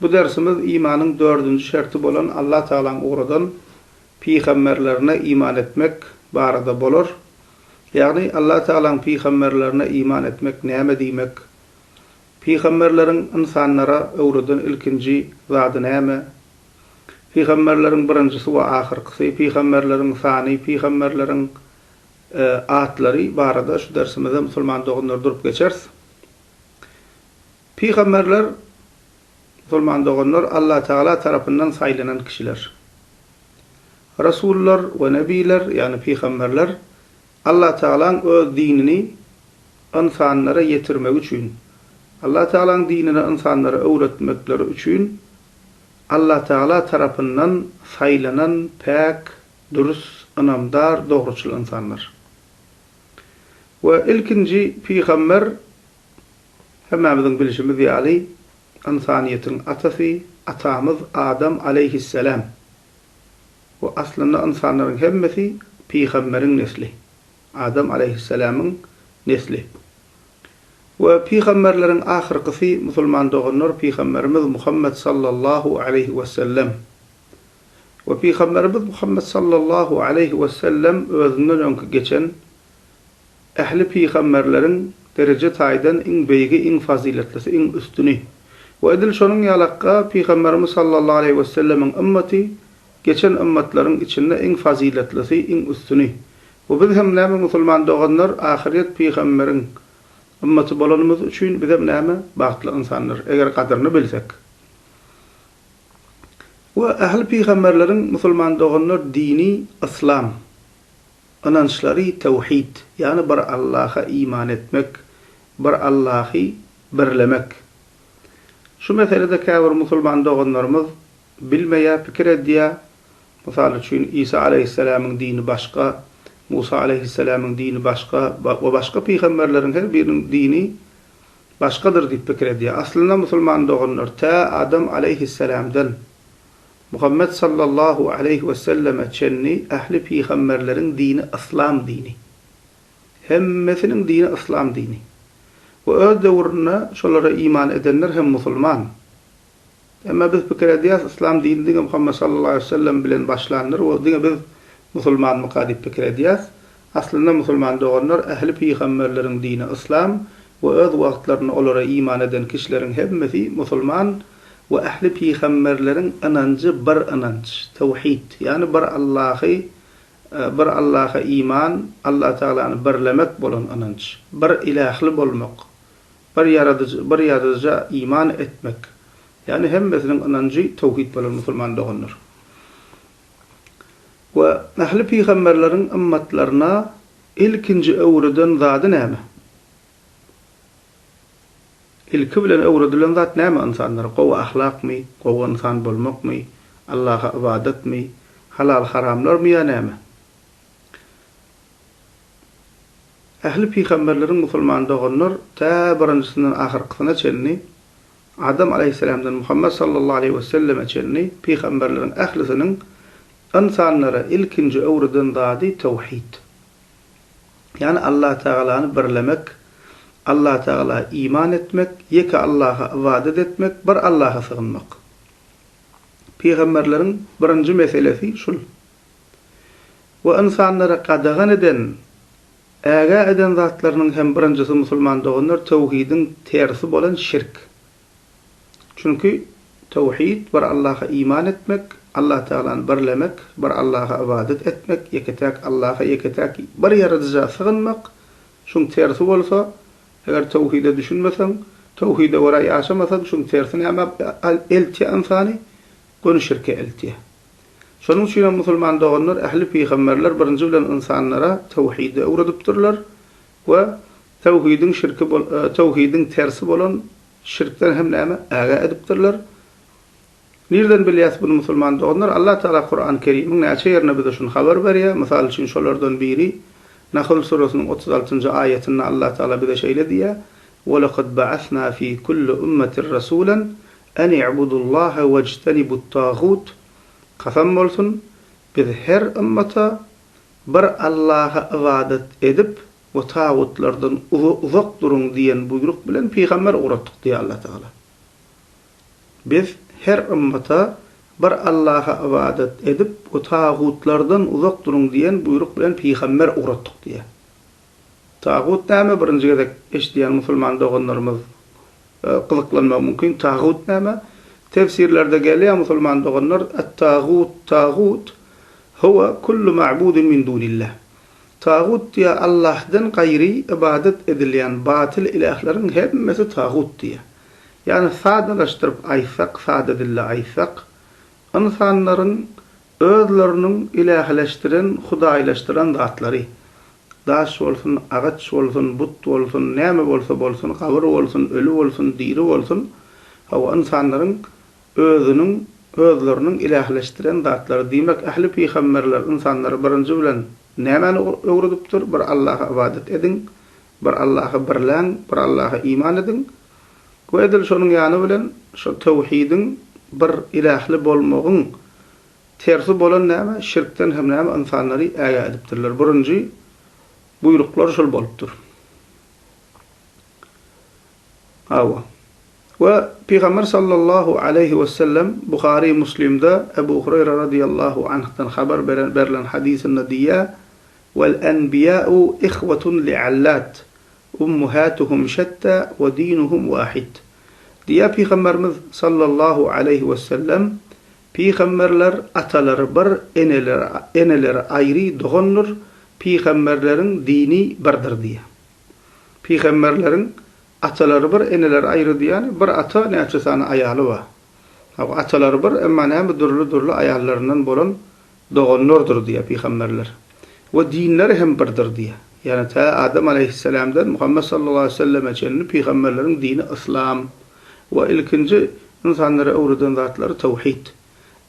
Bu dersimiz imanyň dördünji şerti bolan Allah Tagalaň ugradan pygamberlerine iman etmek barada bolar. Ýagny Allah Tagalaň pygamberlerine iman etmek näme diýmek? Pygamberleriň ynsanlara öwreden ilkinji zady näme? Pygamberleriň birinjisi we ahyrkysy, pygamberleriň sany, pygamberleriň atlary barada şu dersimizde musulman doganlar durup geçeris. Pygamberler, musulman doganlar, Allatagala tarapyndan saýlanan kişiler. Rasullar we nebýler, ýagny pygamberler, Allatagalaň öz dinini ynsanlara ýetirmegi üçin, Allatagalaň dinini ynsanlara öwretmekleri üçin Allatagala tarapyndan saýlanan päk, dürs, ynamdar, dogruçyl ynsanlar. We ilkinji pygamber, Hemmämiziň bilşimiz ýaly, ynsanyýetiň atasy Atamyz Adam aleýhisseläm we aslynda ynsanlaryň hemmesi pygamberiň nesli, Adam aleýhisselämiň nesli. We pygamberleriň ahyrkysy musulman doganlar pygamberimiz Muhammet sallallahu aleýhi wesellem. We pygamberimiz Muhammet sallallahu aleýhi wesellem özünden öňki geçen Ähli pygamberleriň dereje taýdan iň beýigi, iň fazyletlisi, iň üstüni. We edil şonuň ýaly hakga Pygamberimiz sallallahu aleýhi wesellemiň ymmaty geçen ymmatlaryň içinde iň fazyletlisi, iň üstüni. We biz hem näme musulman doganlar ahyrýet pygamberiň ymmaty bolanymyz üçin bizem näme bagtly ynsanlar eger gadyryny bilsek. We ähli pygamberleriň musulman doganlar dini yslam. Ynançlary tewhid, ýagny bir Allaha iman etmek, bir Allahy birlemek. Şu meselede käbir musulman doganlarymyz bilmeýär, pikir edýär, mysal üçin, Isa aleýhisselämiň dini başga, Musa aleýhisselämiň dini başga we başga pygamberleriň her biriniň dini başgadyr diýip pikir edýär. Aslynda musulman doganlar tä Adam aleýhisselämden Muhammet sallallahu aleýhi we selleme çenli ähli pygamberleriň dini yslam dini. Hemmesiniň dini yslam dini. We öz döwründe şolara iman edenler hem musulman. Emma biz pikir edýäris yslam dini diňe Muhammet sallallahu aleýhi we sellem bilen başlandyr we diňe biz musulmanmyka diýip pikir edýäris. Aslynda musulman doganlar ähli pygamberleriň dini yslam we öz wagtlarynda olara iman eden kişileriň hemmesi musulman we ähli pygamberleriň ynanjy bir ynanç, tewhid, ýagny bir Allahy bir Allaha iman, Alla Tagalany birlemek bolan ynanç, bir ilähli bolmak, bir ýaradyjy bir ýaradyja iman etmek, ýagny hemmesiniň ynanjy tewhid bolan musulman doganlar. We ähli pygamberleriň ymmatlaryna ilkinji öwreden zady näme? Ilki bilen öwredilen zat näme ynsanlara? Gowy ahlakmy? Gowy ynsan bolmakmy? Allaha ybadatmy? Halal-haramlarmy ýa näme? Ähli pygamberleriň musulman doganlar tä birinjisinden ahyrkysyna çenli Adam alaýhyssalamdan Muhammet sallallahu aleýhi we selleme çenli pygamberleriň ählisiniň ynsanlara ilkinji öwreden zady tawhid. Ýagny Allah tagalany birlemek, Allah tagala iman etmek, ýeke Allaha ybadat etmek, bir Allaha sygynmak. Pygamberleriň birinji meselesi şul. We ynsanlara gadagan eden Ägä eden zatlarynyň hem birinjisi musulman doganlar töwhidiň tersi bolan şirk. Çünki töwhid bir Allaha iman etmek, Allah Tagalany birlemek, bir Allaha ybadat etmek, ýeketäk Allaha ýeketäk bir ýaradyja sygynmak, şuň tersi bolsa, eger töwhide düşünmeseň, töwhide görä ýaşamasaň şuň tersi näme eltýä ynsany, göni şirke eltýä. Şonuň üçin hem musulman doganlar ähli pygamberler birinji bilen ynsanlara töwhidi öwredipdirler we töwhidiň şirki töwhidiň tersi bolan şirkden hem näme ägä edipdirler. Nirden bilýäs buny musulman doganlar? Allah Taala Kurany Kerimiň näçe ýerinde bize şuny habar berýär. Mysal üçin şolardan biri Nahl suresiniň otuz altynjy aýatynda Allah Taala bize şeýle diýýär, Welekad ba'asna fi kulli ummetir rasulen An i'budullaha wejtenibut-tagut, Kasam bolsun, biz her ymmata bir Allaha ybadat edip we tagutlardan uzak duruň diýen buýruk bilen pygamber ugratdyk diýýär Allah Tagala. Biz her ymmata bir Allaha ybadat edip we tagutlardan uzak duruň diýen buýruk bilen pygamber ugratdyk diýýär. Tagut näme birinji gezek eşidýän musulman doganlarymyz gyzyklanmagy mümkin tagut näme tefsirlerde gelýär musulman doganlar et tagut tagut huwa kullu ma'budun min dunillah tagut diýýär Allahdan gaýry ybadat edilýän batyl ilähleriň hemmesi tagut diýýär ýagny sadalaşdyryp aýtsak sada dilde aýtsak ynsanlaryň Özleriniň ilähileşdiren, hudaýlaşdyran zatlary, daş bolsun, agaç bolsun, but bolsun, näme bolsa bolsun, gabyr bolsun, öli bolsun, diri bolsun, hawa, ynsanlaryň özüniň, özleriniň ilähileşdiren zatlary, diýmek, ähli pygamberler ynsanlara birinji bilen nämäni öwredipdir? Bir Allaha ybadat ediň, Bir Allahy birläň, bir Allaha iman ediň we edil şonuň ýany bilen şo töwhidiň, bir ilähli bolmagyň, tersi bolan näme, şirkden hem näme ynsanlary ägä edipdirler. Birinji buýruklar şol bolupdyr. Hawa. We Pygamber sallallahu aleýhi wesellem Buhary Muslimde Ebu Hureýre radiýallahu anhdan habar beren, berlen hadysynda diýýär, Wal enbiýäu ihwatun li allat, ummuhatuhum şetta we dinuhum wahid. Diýýär Pygamberimiz sallallahu aleýhi wesellem, Pygamberler atalary bir, eneleri eneleri aýry dogandyr, pygamberleriň dini birdir diýýär. Pygamberleriň atalary bir, eneleri aýry diýýäni, bir ata näçe sany aýaly bar. Atalary bir, emma näme dürli-dürli aýallaryndan bolan Doganlardyr diýýär pygamberler. We dinleri hem birdir diýýär. Ýagny tä Adam aleýhisselamdan Muhammet sallallahu aleýhi weselleme çenli pygamberleriň dini yslam we ilkinji ynsanlara öwreden zatlary tawhid.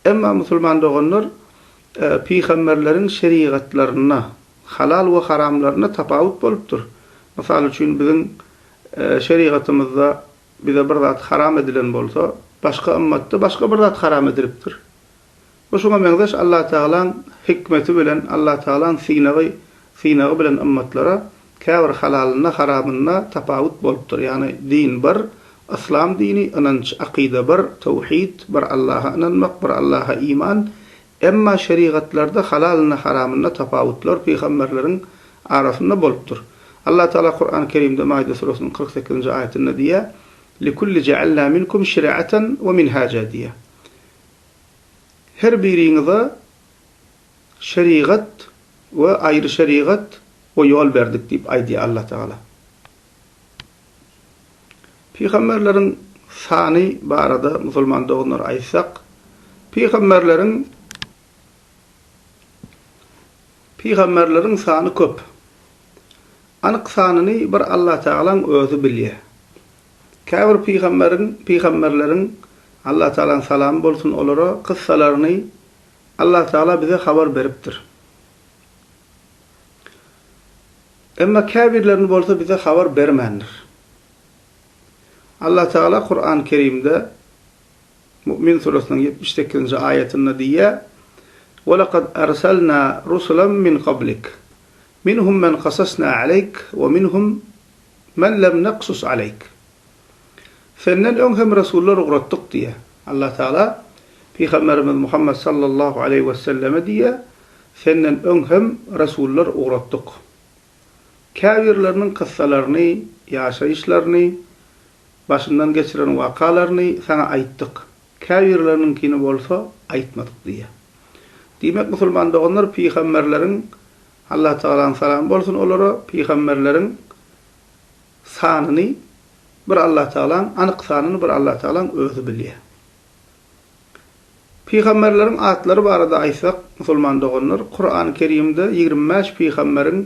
Emma musulman doganlar pygamberleriň şerigatlarynda halal we haramlarynda tapawut bolupdyr. Mysal üçin biziň şerigatymyzda bize bir zat haram edilen bolsa, başga ymmatda başga bir zat haram edilipdir. Bu şuňa meňzeş Allatagalaň hikmeti bilen Allatagalaň synagy synagy bilen ymmatlara käbir halalynda haramynda tapawut bolupdyr ýagny din bir Yslam dini ynanç akyda bir towhid bir Allaha ynanmak bir Allaha iman emma şerigatlarda halalynda haramynda tapawutlar pygamberleriň arasynda bolupdyr Allatagala Kurany Kerimde Maide suresynyň kyrk sekizinji aýatynda diýýär Likulli jealna minkum şiraatan we minhaja diýýär Her biriňize şerigat we aýry şerigat we ýol berdik diýip aýdýar Allah Tagala. Pygamberleriň sany barada musulman doganlara aýtsak, pygamberleriň pygamberleriň sany köp. Anyk sanyny bir Allah Tagalaň özi bilýär. Käbir pygamberiň, pygamberleriň, Allah Tagalaň salamy bolsun olara, kyssalaryny Allah Tagala bize habar beripdir. Emma käbirlerini bolsa bize habar bermändir. Allah Tagala Kurany Kerimde Mu'min suresiniň ýetmiş sekizinji aýatynda diýýär, Welakad arsalna rusulan min qablik, minhum men qasasna aleyk we minhum Men lem naksus aleyk. Senden öň hem resullar ugratdyk diýýär. Allah Tagala Pygamberimiz Muhammet sallallahu aleýhi weselleme diýýär, Senden öň hem resullar ugratdyk. Käbirleriniň kyssalaryny, ýaşaýyşlaryny, başyndan geçiren wakalaryny saňa aýtdyk, käbirleriniňkini bolsa aýtmadyk diýýär. Diýmek, musulman doganlar pygamberleriň Allah Tagalaň salamy bolsun olara, pygamberleriň sanyny bir Allah Tagalaň, anyk sanyny bir Allah Tagalaň özi bilýär. Pygamberleriň atlary barada aýtsak, musulman doganlar, Kurany Kerimde ýigrimi bäş pygamberiň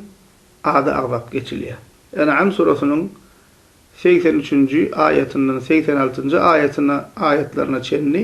ady agzap geçilýär. En'am surasynyň segsen üçünji aýatyndan segsen altynjy aýatyna aýatlaryna çenli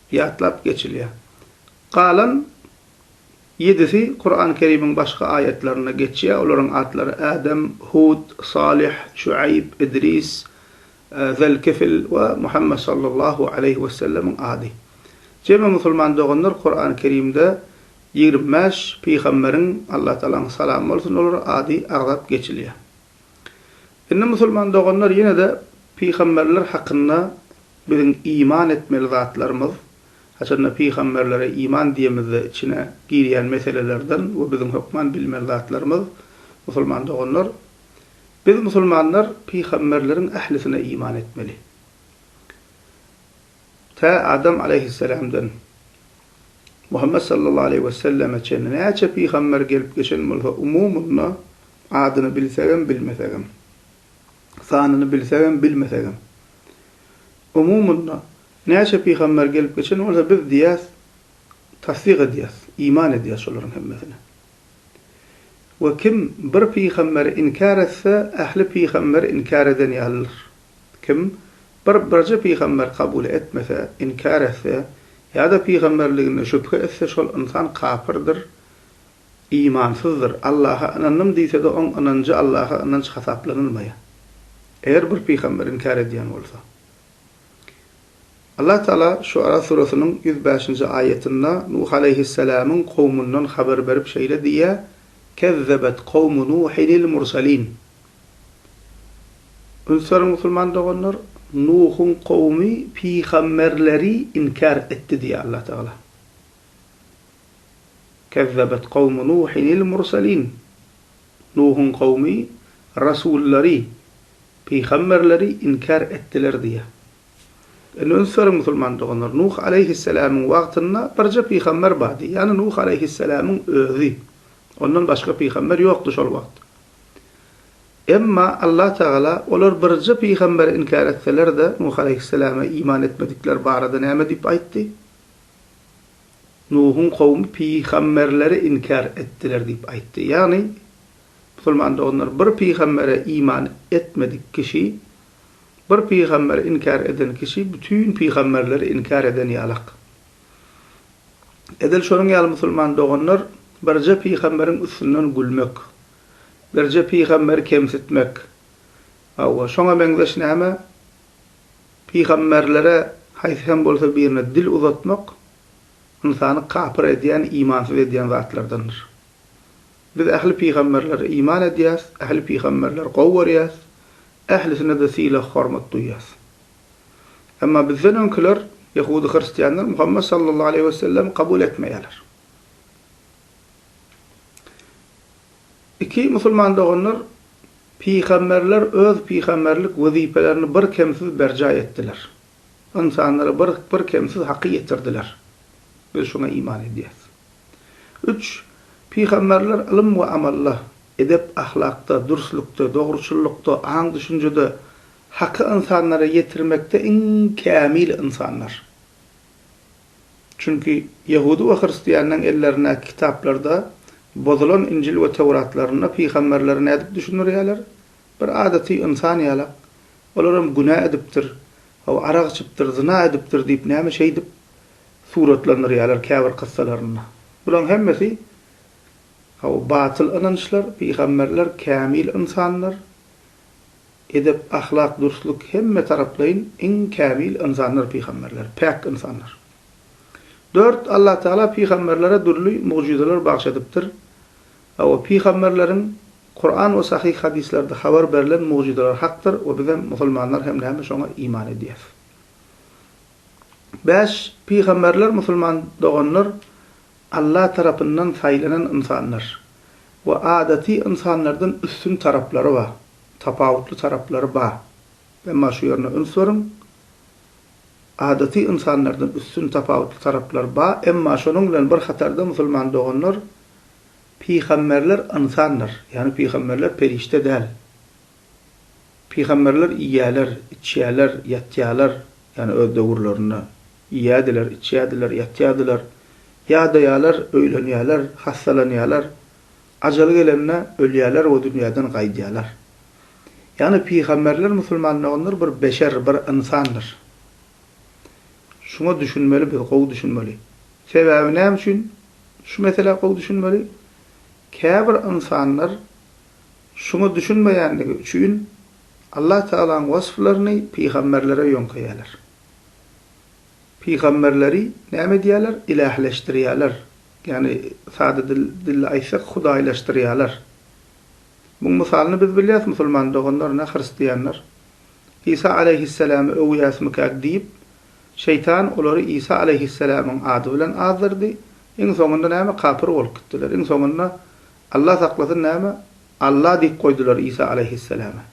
ýatlap geçilýär. Galan ýedisi Kurany Kerimiň başga aýatlarynda geçýär, olaryň atlary Ädem, Hud, Salyh, Şuaýb, Idris, Zelkifl we Muhammet sallallahu aleýhi wesellemiň ady. Jemi musulman doganlar Kurany Kerimde ýigrimi bäş pygamberiň, Allatagalaň salamy bolsun olara, ady agzap geçilýär. Indi musulman doganlar ýene-de pygamberler hakynda biziň iman etmeli zatlarymyz, haçanda pygamberlere iman diýemizde içine girýän meselelerden we biziň hökman bilmeli zatlarymyz, musulman doganlar, biz musulmanlar pygamberleriň ählisine iman etmeli. Tä Adam aleýhisselamdan Muhammet sallallahu aleýhi we selleme çenli näçe pygamber gelip geçen bolsa umumyna adyny bilsegem bilmesegem, sanyny bilsegem bilmesegem, umumyna näçe pygamber gelip geçen bolsa biz diýýäs tassyk edýäs, iman edýäs şolaryň hemmesine. We kim bir pygamberi inkär etse ähli pygamberi inkär eden ýalydyr. Kim Bir birje pygamber kabul etmese, inkär etse, ýa-da pygamberliginde şübhe etse şol ynsan kapyrdyr, imansyzdyr, Allaha ynandym diýse-de oň ynanjy Allaha ynanç hasaplanylmaýar. Eger bir pygamberi inkär edýän bolsa. Allah Taala Şuara surasynyň ýüz bäşinji aýatynda Nuh aleýhisselamyň kowmundan habar berip şeýle diýýär, Kezzebet kowmu Nuhinil mursalin, Ünsüriň musulman doganlar, Nuhuň kowumy pygamberleri inkär etdi diýýär Allah Tagala. Kezzebet kowmu Nuhinil murselin. Nuhuň kowumy rasullary, pygamberleri inkär etdiler diýýär. Indi ünsüriň musulman doganlar, Nuh aleýhisselamyň wagtynda birje pygamber bardy, ýagny Nuh aleýhisselamyň özi. Ondan başga pygamber ýokdy şol wagt. Emma Allah Tagala, Olar birje pygamberi inkär etseler-de, Nuh aleýhissalama iman etmedikleri barada näme diýip aýtdy? Nuhuň kowumy pygamberleri inkär etdiler diýip aýtdy. Ýagny, musulman doganlar, bir pygambere iman etmedik kişi, bir pygamberi inkär eden kişi bütin pygamberleri inkär eden ýalak. Edil şonuň ýaly musulman doganlar birje pygamberiň üstünden gülmek, birje pygamberi kemsitmek, hawa, şoňa meňzeş näme pygamberlere haýsy hem bolsa birine dil uzatmak ynsany kapyr edýän, imansyz edýän zatlardandyr. Biz ähli pygamberlere iman edýäs, ähli pygamberleri gowy görýäs, ählisine-de sylag-hormat duýýas. Emma bizden öňküler, ýahudy-hristianlar Muhammet sallallahu aleýhi we sellemi kabul etmeýärler. Iki musulman doganlar pygamberler öz pygamberlik wezipelerini bir kemsiz berjaý etdiler. Ynsanlara bir bir kemsiz haky ýetirdiler. Biz şuňa iman edýäris. Üç pygamberler ylym we amalla, edep-ahlakda, dürslükde, dogruçyllykda, aň-düşünjede Haky ynsanlara ýetirmekde iň kämil ynsanlar. Çünki ýehudy we hristianlaryň ellerindäki kitaplarda, bozulan Injil we Töwratlarynda pygamberleri nädip düşündirýärler? Bir adaty ynsan ýalak. Olar hem günä edipdir, hawa, arak içipdir, zyna edipdir diýip näme şeýdip suratlandyrýarlar käbir kyssalarynda. Bularyň hemmesi, hawa, batyl ynançlar, pygamberler kämil ynsanlar, Edep, ahlak, dürslük, hemme taraplaýyn iň kämil ynsanlar pygamberler, päk ynsanlar. Dört, Allah Tagala pygamberlere dürli mugjyzalar bagş edipdir. Hawa, pygamberleriň Kuran we sahyh hadyslerde habar berlen mugjyzalary hakdyr we bizem, musulmanlar hem näme şoňa iman edýäs. Bäş, pygamberler musulman doganlar, Alla tarapyndan saýlanan ynsanlar we adaty ynsanlardan üstün taraplary we tapawutly taraplary bar. Emma şu ýerine üns beriň, adaty ynsanlardan üstün tapawutly taraplary bar, emma şonuň bilen bir hatarda musulman doganlar, pygamberler ynsandyr, ýagny pygamberler perişde däl. Pygamberler iýýäler, içýäler, ýatýalar, ýagny öz döwürlerinde Iýýärdiler, içýärdiler, ýatýardylar. Ýadaýarlar, öýlenýärler, hassalanýarlar. Ajaly gelende, ölýärler we dünýäden gaýdýarlar. Ýagny pygamberler musulman doganlar bir beşer, bir ynsandyr. Şuňa düşünmeli biz, gowy düşünmeli. Sebäbi näme üçin şu meselä gowy düşünmeli? Käbir ynsanlar şuňa düşünmeýändigi üçin Allah Tagalaň wasplaryny pygamberlere ýöňkeýärler. Pygamberleri näme edýärler? Ilähleşdirýärler. Ýagny sada dilde aýtsak hudaýlaşdyrýarlar. Muň mysalyny biz bilýäs musulman doganlar ne hristianlar. Isa aleýhissalamy öwýäsmikäk diýip şeýtan olary Isa aleýhissalamyň ady bilen azdyrdy, iň soňunda näme kapyr bolup gitdiler. Iň soňunda Allah saklasyn näme Alla diýip goýdular Isa aleýhissalama.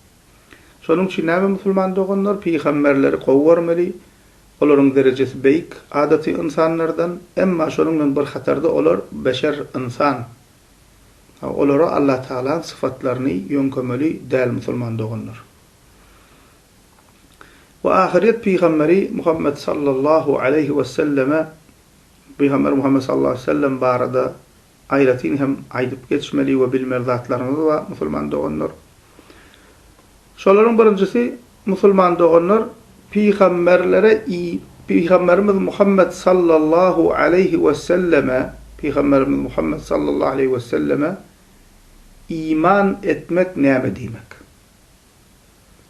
Şonuň üçin näme musulman doganlar pygamberleri gowy görmeli, olaryň derejesi beýik, adaty ynsanlardan, emma şonuň bilen bir hatarda olar beşer ynsan, olara Allah Tagalaň syfatlaryny ýöňkemeli däl musulman doganlar. We ahyryýet pygamberi Muhammet sallallahu aleýhi weselleme, pygamber Muhammet sallallahu aleýhi wesellem barada Aýratyn hem aýdyp geçmeli we bilmeli zatlarymyz bar musulman doganlar. Şolaryň birinjisi musulman doganlar pygamberlere i pygamberimiz Muhammet sallallahu aleýhi weselleme pygamberimiz Muhammet sallallahu aleýhi weselleme iman etmek näme diýmek?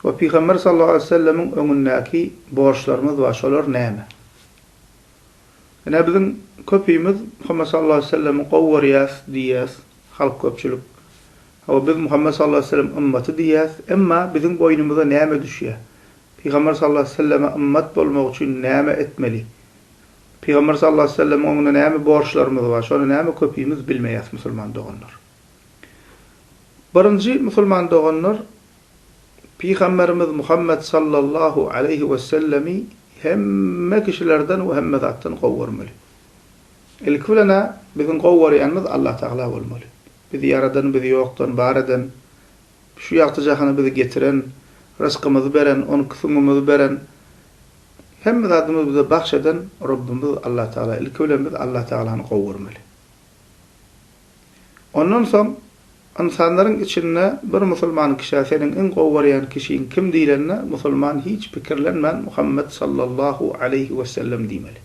We pygamber sallallahu aleýhi wesellemiň öňündäki borçlarymyz bar şolar näme? Ine biziň köpimiz Muhammet sallallahu aleýhi we sellemi gowy görýäs diýýäs, halk köpçülik. Hawa biz Muhammet sallallahu aleýhi we sellem ymmaty diýýäs, emma biziň boýnumyza näme düşýär? Pygamber sallallahu aleýhi we selleme ymmat bolmak üçin näme etmeli? Pygamber sallallahu aleýhi we sellemiň öňünde näme borçlarymyz bar? Şony näme köpimiz bilmeýäs musulman doganlar. Birinji musulman doganlar Pygamberimiz Muhammet sallallahu aleýhi wesellemi hemme kişilerden we hemme zatdan gowy görmeli. Ilki bilen-ä biziň gowy görýänimiz Allah Tagala bolmaly. Bizi ýaradan, bizi ýokdan bar eden, şu ýagty jahana bizi getiren, ryzkymyzy beren, onki süňňümizi beren, hemme zadymyzy bize bagş eden Rabbimiz Allah Tagala. Ilki bilen biz Allah Tagalany gowy görmeli. Ondan soň ynsanlaryň içinde bir musulman kişä seniň iň gowy görýän kişiň kim diýlende, musulman hiç pikirlenmän Muhammet sallallahu aleýhi wesellem diýmeli.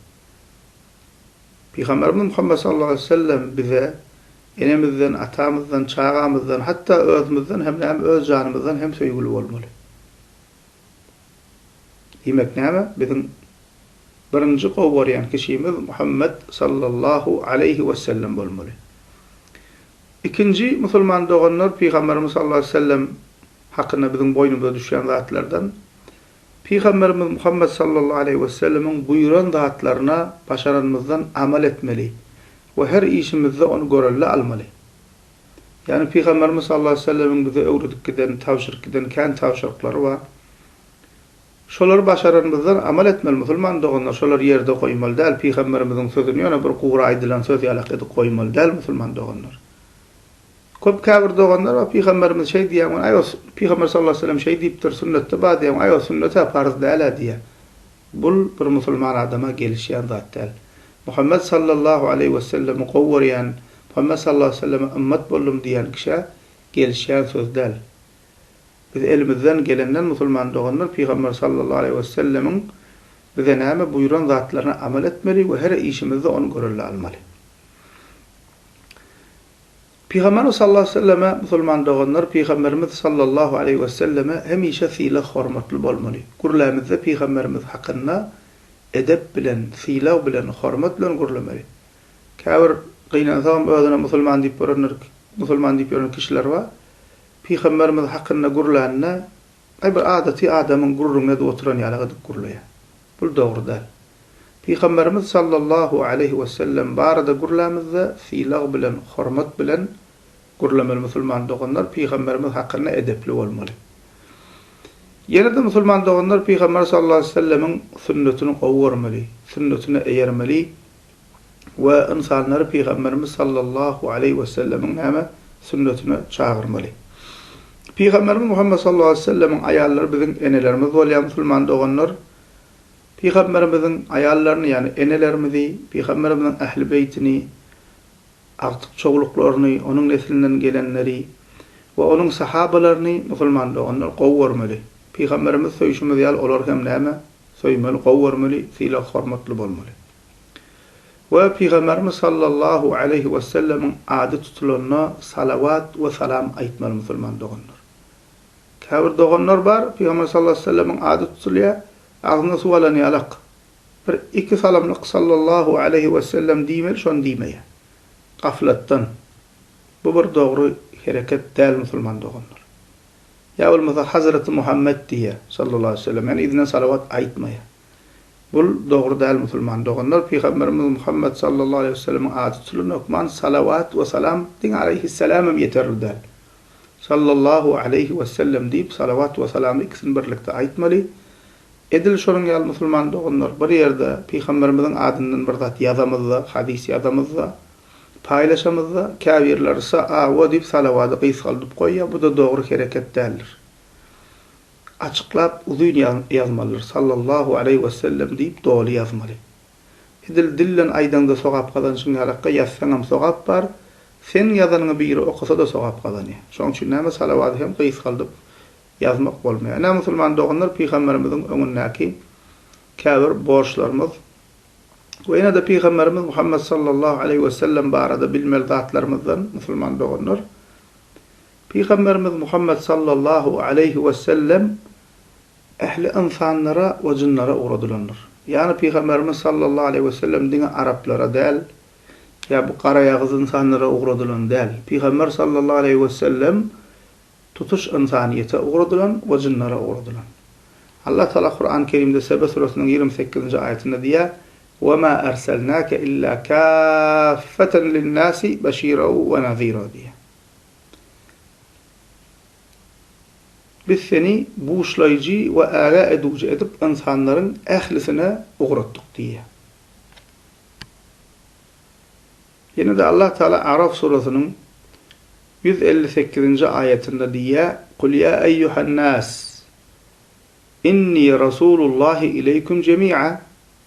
Pygamberimiz Muhammet sallallahu aleýhi wesellem bize enemizden, atamyzdan, çagamyzdan, hatda özümizden hem näme öz janymyzdan hem söýgüli bolmaly. Diýmek näme? Biziň birinji gowy görýän kişimiz Muhammet sallallahu aleýhi wesellem bolmaly. Ikinji musulman doganlar pygamberimiz sallallahu aleýhi wesellem hakynda biziň boýnumyza düşýän zatlardan pygamberimiz Muhammet sallallahu aleýhi wesellemiň buýran zatlaryna başaranymyzdan amal etmeli we her işimizde ony görelde almaly. Ýagny Pygamberimiz sallallahu aleýhi we sellemiň bize öwredip giden, tabşyryp giden kän tabşyryklary bar. Şolary başaranymyzdan amal etmeli musulman doganlar, şolary ýerde goýmaly däl, Pygamberimiziň sözüni ýöne bir gury aýdylan söz ýalak edip goýmaly däl musulman doganlar. Köp käbir doganlar bar Pygamberimiz şeý diýýän gün aý o Pygamber sallallahu aleýhi we sellem şeý diýipdir, sünnetde bar diýýän gün aý o sünnet-ä parz däl-ä diýýär. Bul bir musulman adama gelişýän zat däl. Muhammet sallallahu aleýhi wesellemi gowy görýän, Muhammet sallallahu aleýhi weselleme ymmat boldum diýýän kişä gelişýän söz däl. Biz elimizden gelenden musulman doganlar Pygamber sallallahu aleýhi wesellemiň bize näme buýran zatlaryna amal etmeli we her işimizde ony görelde almaly. Pygamberimiz sallallahu aleýhi we selleme musulman doganlar Pygamberimiz sallallahu aleýhi we selleme hemişe sylag hormatly bolmaly. Gürlämizde Pygamberimiz hakynda edep bilen, sylag bilen, hormat bilen gürlemeli. Käbir gynansagam özüne musulman diýip görenler musulman diýip ýören kişiler bar. Pygamberimiz hakynda gürlände gaý bir adaty adamyň gürrüňini edip oturan ýaly edip gürleýär. Bul dogruda, Pygamberimiz sallallahu aleýhi we sellem barada gürlämizde sylag bilen, hormat bilen gürlemeli musulman doganlar Pygamberimiz hakynda edepli bolmaly. Ýene-de musulman doganlar Pygamber sallallahu aleýhi we sellemiň sünnetini gowy görmeli, sünnetine eýermeli, we ynsanlary Pygamberimiz sallallahu aleýhi wesellemiň näme sünnetine çagyrmaly? Pygamberimiz Muhammet sallallahu aleýhi wesellemiň aýallary biziň enelerimiz bolýar musulman doganlar. Pygamberimiziň aýallaryny ýagny enelerimizi, Pygamberimiziň ähli beýtini, agtyk çowluklaryny, onuň neslinden gelenleri we onuň sahabalaryny musulman doganlar gowy görmeli. Pygamberimizi söýşimiz ýaly olary hem näme söýmeli, gowy görmeli, sylag-hormatly bolmaly. we Pygamberimiz sallallahu aleýhi wesellemiň ady tutulanda salawat we salam aýtmaly musulman doganlar. Käbir doganlar bar, Pygamber sallallahu aleýhi wesellemiň ady tutulýar, agzyna suw alan ýalak, bir iki salamlyk sallallahu aleýhi wesellem diýmeli şony diýmeýär. Gaflatdan. Bu bir dogry hereket däl musulman doganlar. Ýa bolmasa Hazreti Muhammet diýýär sallallahu aleýhi wesellem, ýani yzyna salawat aýtmaýar. Bul dogry däl musulman doganlar pygamberimiz Muhammet sallallahu aleýhi weselemiň ady tutulan hökman salawat we salam diň aleýhisselam hem ýeterli däl. Sallallahu aleýhi wesellem diýip salawat we salamy ikisini birlikde aýtmaly. Edil şonuň ýaly musulman doganlar bir ýerde pygamberimiziň adyndan bir zat ýazamyzda, hadys ýazamyzda, paýlaşamyzda käbirleri sa a we diýip salawady gysgaldyp goýýar bu-da dogry hereket däldir. Açyklap uzyn ýazmalydyr, Sallallahu aleýhi we sellem diýip doly ýazmaly. Edil dilden aýdaňda sogap gazanşyň ýarakka ýazsaňam sogap bar, seň ýazanyňy biri okasa-da sogap gazanýar. Şoň üçin näme salawady hem gysgaldyp ýazmak bolmaýar. Ine musulman doganlar pygamberimiziň öňündäki käbir borçlarymyz we ýene-de pygamberimiz Muhammet Sallallahu aleýhi we sellem barada bilmeli zatlarymyzdan musulman doganlar. Pygamberimiz Muhammet sallallahu aleýhi wesellem ähli ynsanlara we jynlara ugradylandyr. Ýagny Pygamberimiz sallallahu aleýhi wesellem diňe araplara däl, ýa bu garaýagyz ynsanlara ugradylan däl. Pygamber sallallahu aleýhi wesellem tutuş ynsanyýete ugradylan we jynlara ugradylan. Allah Taala Kurany Kerimde Sebe süresiniň ýigrimi sekizinji aýatynda diýýär, Wema erselnake illa kaffeten linnasi beşira we nazira diýýär. Biz seni buşlaýjy we äre edüji edip ynsanlaryň ählisine ugratdyk diýýär. Ýene-de Allah Tagala A'raf surasynyň ýüz elli sekizinji aýatynda diýýär, Kul ýa eýýuhan-nas, inni rasulul-lahi ileýkum jemi'a.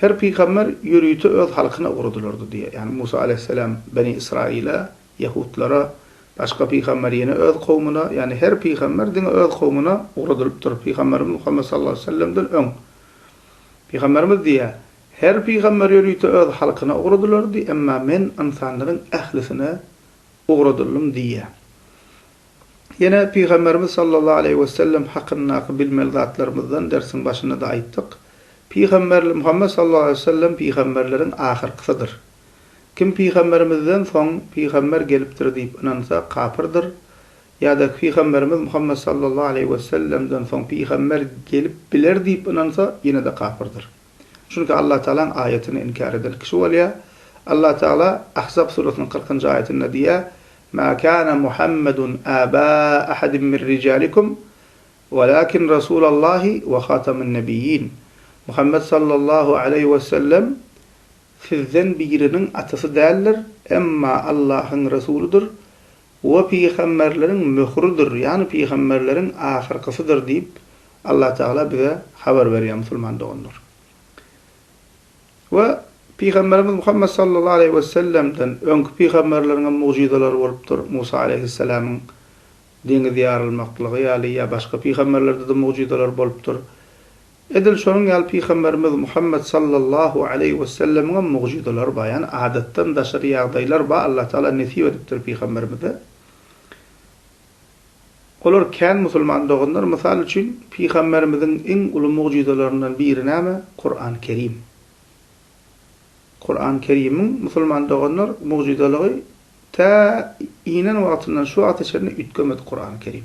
Her pygamber ýörite öz halkyna ugradylardy diýýär. Ýagny Musa aleýhissalam Beni Ysraýyla, ýehudlara, başga pygamber ýene öz kowmuna, ýagny her pygamber diňe öz kowmuna ugradylypdyr, pygamberimiz Muhammet sallallahu aleýhi wesellemden öň. Pygamberimiz diýýär, Her pygamber ýörite öz halkyna ugradylardy, emma men ynsanlaryň ählisine ugradyldym diýýär. Ýene Pygamberimiz sallallahu aleýhi we sellem hakyndaky bilmeli zatlarymyzdan dersiň başynda-da aýtdyk. Pygamber Muhammet sallallahu aleýhi we sellem pygamberleriň ahyrkysydyr. Kim Pygamberimizden soň pygamber gelipdir diýip ynansa, kapyrdyr. Ýa-da Pygamberimiz Muhammet sallallahu aleýhi we sellemden soň pygamber gelip biler diýip ynansa, ýene-de kapyrdyr. Çünki Allatagalaň aýatyny inkär eden kişi bolýar. Allatagala Ahzab surasynyň kyrkynjy aýatynda diýýär, Ma kana Muhammedun aba ahadin min rijalikum, walakin Rasulallahi we hataman nebiyyin. Muhammet sallallahu aleýhi wesellem sizden biriniň atasy däldir, emma Allahyň Resulydyr We pygamberleriň möhüridir, ýagny pygamberleriň ahyrkysydyr diýip, Allatagala bize habar berýär, musulman doganlar. We pygamberimiz Muhammet sallallahu aleýhi we sellemden öňki pygamberleriňem mugjyzalary bolupdyr, Musa aleýhisselamyň deňiz ýarylmaklygy ýaly, ýa başga pygamberlerdede mugjyzalar bolupdyr. Edil şonuň ýaly Pygamberimiz Muhammet sallallahu aleýhi wesellemiňem mugjyzalary bar, ýagny adatdan daşary ýagdaýlar bar, Allah Tagala nesip edipdir Pygamberimize. Olar kän musulman doganlar, mysal üçin Pygamberimiziň iň uly mugjyzalaryndan biri näme? Kuran Kerim. Kuran Kerimiň musulman doganlar mugjyzalygy tä inen wagtyndan şu wagta çenli üýtgemedi Kuran Kerim.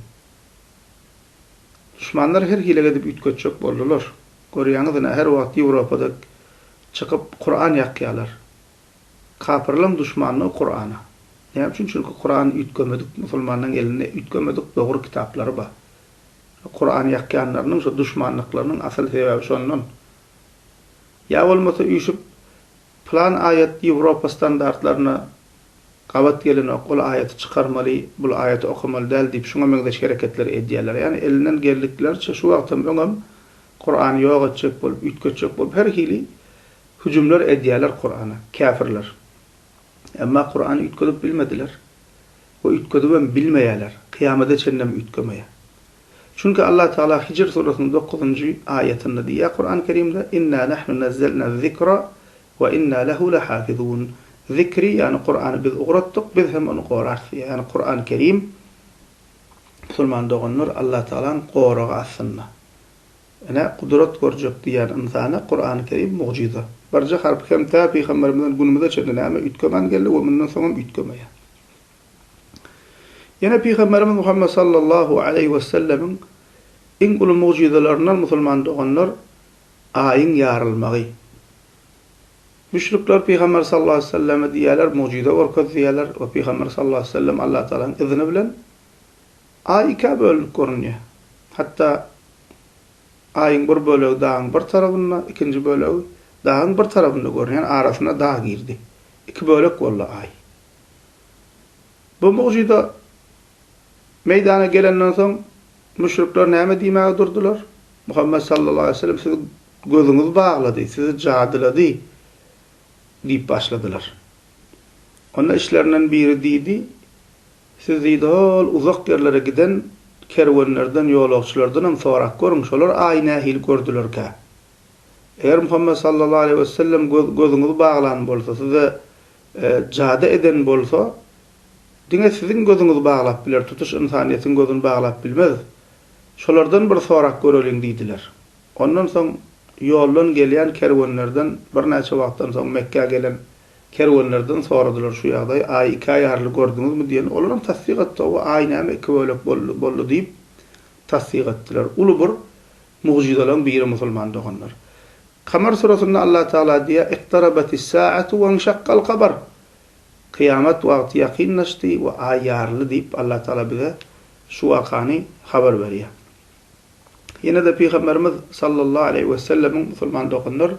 Duşmanlar her hile edip üýtgetjek boldular. Görýäňiz ine her wagt Ýewropada çykyp Kuran ýakýalar. Kapyrlaň duşmanyny Kurana. Näme üçin çünki Kuran üýtgemedik musulmanyň elinde üýtgemedik dogry kitaplary bar. Şo Kuran ýakýanlarynyň şo duşmanlyklarynyň asyl sebäbi şondan. Ýa bolmasa üýşüp Plan aýat Ýewropa standartlaryna gabat gelenok, ol aýaty çykarmaly, bul aýaty okamaly däl diýip şuňa meňzeş hereketleri edýärler. Ýagny elinden geldikleriçe şu wagtam öňem Kurany ýok etjek bolup, üýtgetjek bolup her hili hüjümler edýärler Kurana, käfirler. Emma Kurany üýtgedip bilmediler we üýtgedibem bilmeýärler, kyýamada çenlem üýtgemeýär. Çünki Allah Tagala Hijr surasynyň dokuzynjy aýatynda diýýär, Kurany Kerimde, Inna nahnu nazzalna zikra we inna lehu lahafizun, Zikri, ýagny Kurany biz ugratdyk, biz hem ony gorarys diýýär. Ýagny Kurany Kerim, musulman doganlar, Allah Tagalaň goragy astynda. Ine, gudrat görjek diýýän ynsana Kurany Kerim mugjyza. Birje harpy hem tä pygamberimizden günümize çenli näme üýtgeman geldi we mundan soň hem üýtgemeýär. Ýene Pygamberimiz Muhammet sallallahu aleýhi wesellemiň iň uly mugjyzalaryndan musulman doganlar Aýyň ýarylmagy. Müşrikler Pygamber sallallahu aleýhi weselleme diýýärler, mugjyza görkez diýýärler we Pygamber sallallahu aleýhi wesellem Allah Tagalanyň yzyny bilen Aý ikä bölünip görünýär. Hatda Aýyň bir bölegi dagyň bir tarabynda, ikinji bölegi dagyň bir tarabynda görünýär, arasyna dag girdi. Iki bölek boldy Aý. Bu mugjyza meýdana gelenden soň, müşrikler näme diýmäge durdular? Muhammet sallallahu aleýhi we sellem sizi gözüňiz baglady, sizi jadylady diýip başladylar. Onda içlerinden biri diýdi, Siz diýdi hol uzak ýerlere giden kerwenlerden, ýolagçylardanam sorap görüň, şolar aýy nähili gördülerkä? Eger Muhammet sallallahu aleýhi we sellem gözüňizi baglan bolsa, size Jady eden bolsa, diňe siziň gözüňizi baglap biler, tutuş ynsanyýetiň gözüni baglap bilmez. Şolardan bir sorap göreliň diýdiler. Ondan soň ýoldan gelýän kerwenlerden birnäçe wagtdan soň Mekgä gelen kerwenlerden soradylar şu ýagdaýy, Aýy iki aý arly gördüňizmi diýende, olar hem tassyk etdi, Hawa, Aý näme iki bölek boldy, boldy diýip tassyk etdiler. Uly bir Mugjyzalaň biri musulman doganlar. Kamar suresinde Allah Tagala diýýär, Iktarabatis sa'atu wenşakkal kabar. Kyýamat wagty ýakynlaşdy we aý ýaryldy diýip Allah Tagala bize şu wakany habar berýär. Ýene-de Pygamberimiz sallallahu aleýhi we sellemiň musulman doganlar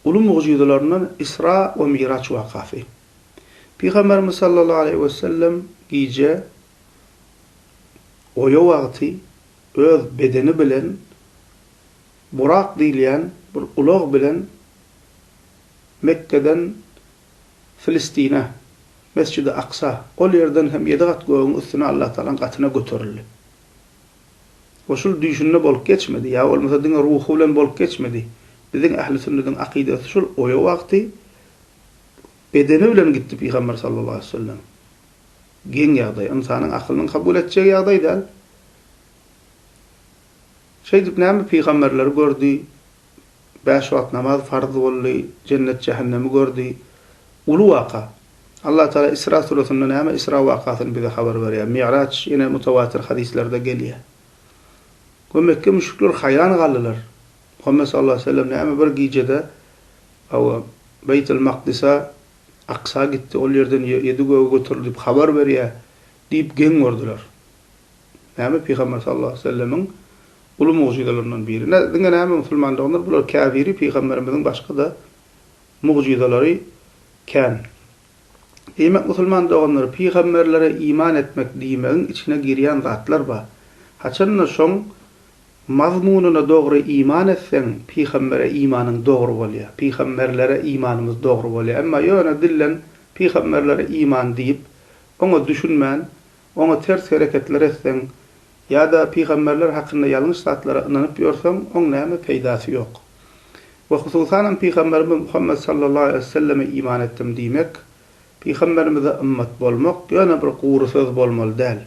uly mugjyzalaryndan Isra we Miraç wakasy. Pygamberimiz sallallahu aleýhi we sellem gije oýa wagty öz bedeni bilen burak diýilýän bir ulag bilen Mekgeden Filistine, Mesjidi Aksa, ol ýerden hem ýedi gat gögüň üstüne Allatagalaň gatyna göterildi. O şul düýşünde bolup geçmedi, ýa bolmasa diňe ruhy bilen bolup geçmedi. Biziň ähli sünnediň akydasy şul, oýa wagty bedeni bilen gitdi Pygamber sallallahu aleýhi wesellem. Geň ýagdaý, ynsanyň akylynyň kabul etjegi ýagdaý däl. Şeýdip näme pygamberleri gördi, bäş wagt namaz farz boldy, jennet-jähennemi gördi. Uly waka. Allah Taala Isra suresinde näme Isra wakasyny bize habar berýär. Mi'raç ýene mutawatir hadyslerde gelýär. We Mekge müşrikleri haýran galdylar. Muhammet sallallahu aleýhi we sellem näme bir gijede hawa Beýtil Makdysa Aksa gitdi, ol ýerden ýedi göge göterildi diýip habar berýär diýip geň gördiler. Näme Pygamber sallallahu aleýhi we sellemiň uly mugjyzalaryndan biri. Nä diňe näme musulmandygynyr bular käbiri pygamberimiziň başgada mugjyzalary kän. Diýmek musulman doganlar pygamberlere iman etmek diýmegiň içine girýän zatlar bar. Haçanda şoň Mazmunyna dogry iman etseň, pygambere imanyň dogry bolýar, pygamberlere imanymyz dogry bolýar. Emma ýöne dilden pygamberlere iman diýip, oňa düşünmän, oňa ters hereketler etseň, ýa-da pygamberler hakynda ýalňyş zatlara ynanyp ýörseň, oň näme peýdasy ýok. We hususanam pygamberimiz Muhammet sallallahu aleýhi weselleme iman etdim diýmek, pygamberimize ymmat bolmak ýöne bir gury söz bolmaly däl.